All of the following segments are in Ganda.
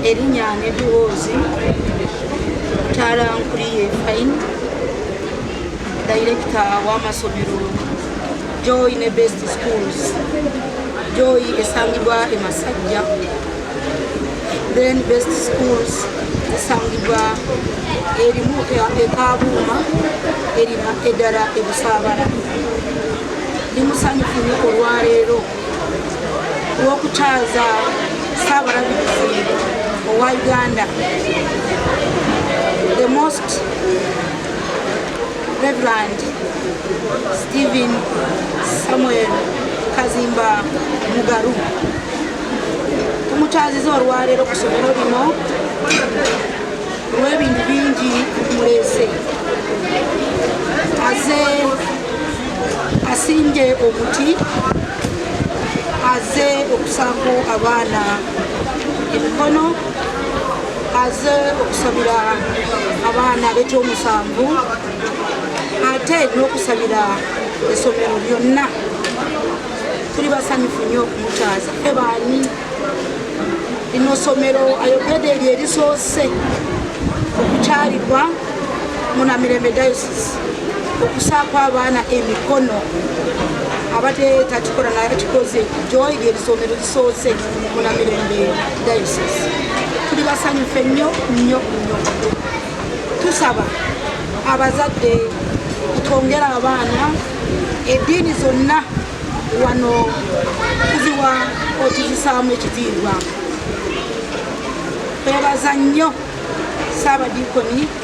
erinnya nebiwoozi taala nkuliye fain dayirekita w'amasomero joy ne best schools joy esangibwa e masajja then best schools esangibwa erimu ekabuuma erina eddala ebusaabala ndi musanyufu nyo olwaleero w'okukyaza ssaabalabirizi owa uganda the most reverend stephen samuel kazimba mugaru tumukyaziza olwaleero ku somero lino olw'ebintu bingi muleese aze asimbye omuti aze okusaako abaana emikono aze okusabira abaana abetya omusanvu ate n'okusabira esomero lyonna tuli basanyufu nnyo okumukyaza fe baani lino somero ayogede lyerisoose okukyalibwa munamirembe diocese okusaako abaana emikono abadde takikola naye akikoze joy lyerisomero lisoose munamirembe diocese tuli basanyufu ennyo nnyo nnyo tusaba abazadde twongera abaana eddiini zonna wano tuziwa otuzisaamu ekitiibwa twebaza nnyo saabadiikoni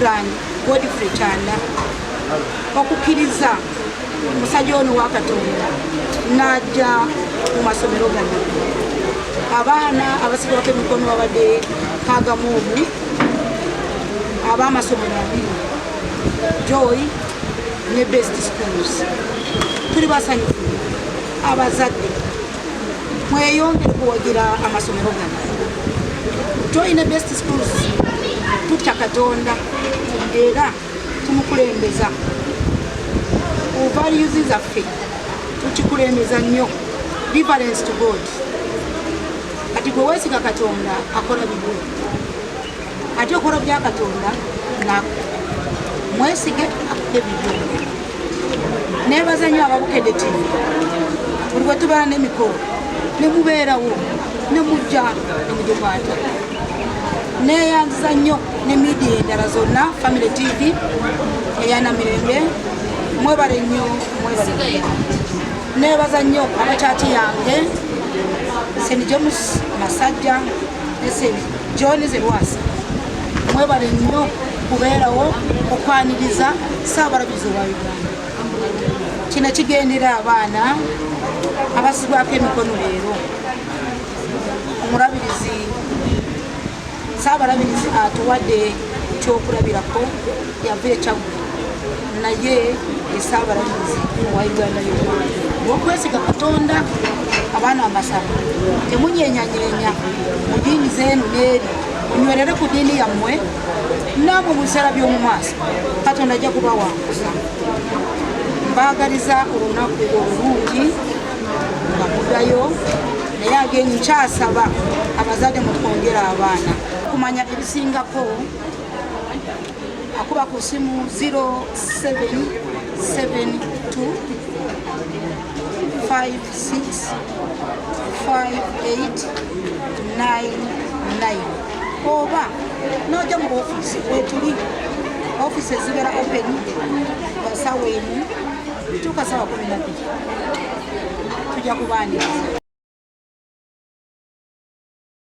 Iran Godfrey Kyanda okukkiriza omusajja ono wa Katonda n'ajja mu masomero gano abaana abasigawako emikono babadde kagamu omu ab'amasomero abiri joy ne best schools tuli basanyufu abazadde mweyongere kuwagira amasomero gano tulina best schools tutya katonda era tumukulembeza ovaluzi zaffe tukikulembeza nnyo difference to god kati gwe wesiga katonda akola bigwe ate okolo bya katonda nako mwesige akude bibyo nebaza nyo ababukede ti buli bwetubala nemikolo nemubeerawo nemujja nemugikwata neyanziza nnyo ne midia endala zonna family tv eyana mirembe mwebale nnyo mwebale nebaza nnyo abakyati yange senijomus masajja eseni John Zerwasa mwebale nnyo kubeerawo okwaniriza ssaabalabizi wa Uganda. Kino kigendera abaana abasibwako emikono leero omulabirizi saabalabirizi atuwadde kyokulabirako yavuye kyaggulu naye esaabalamuzi wa uganda yona okwesiga katonda abaana amasaba temunyenyanyenya mu diini zeenu neeri munywerere ku diini yammwe naabo mu biseera by'omu maaso katonda ajja kubawanguza mbaagaliza olunaku olulungi nga mudayo naye agenyi kyasaba abazadde mutwongera abaana kumanya ebisingako akuba ku simu 0772565899 oba noja mu ofiisi wetuli ofiisi ezibera open sawa emu tuka sawa kumi nabiri tuja kubaniriza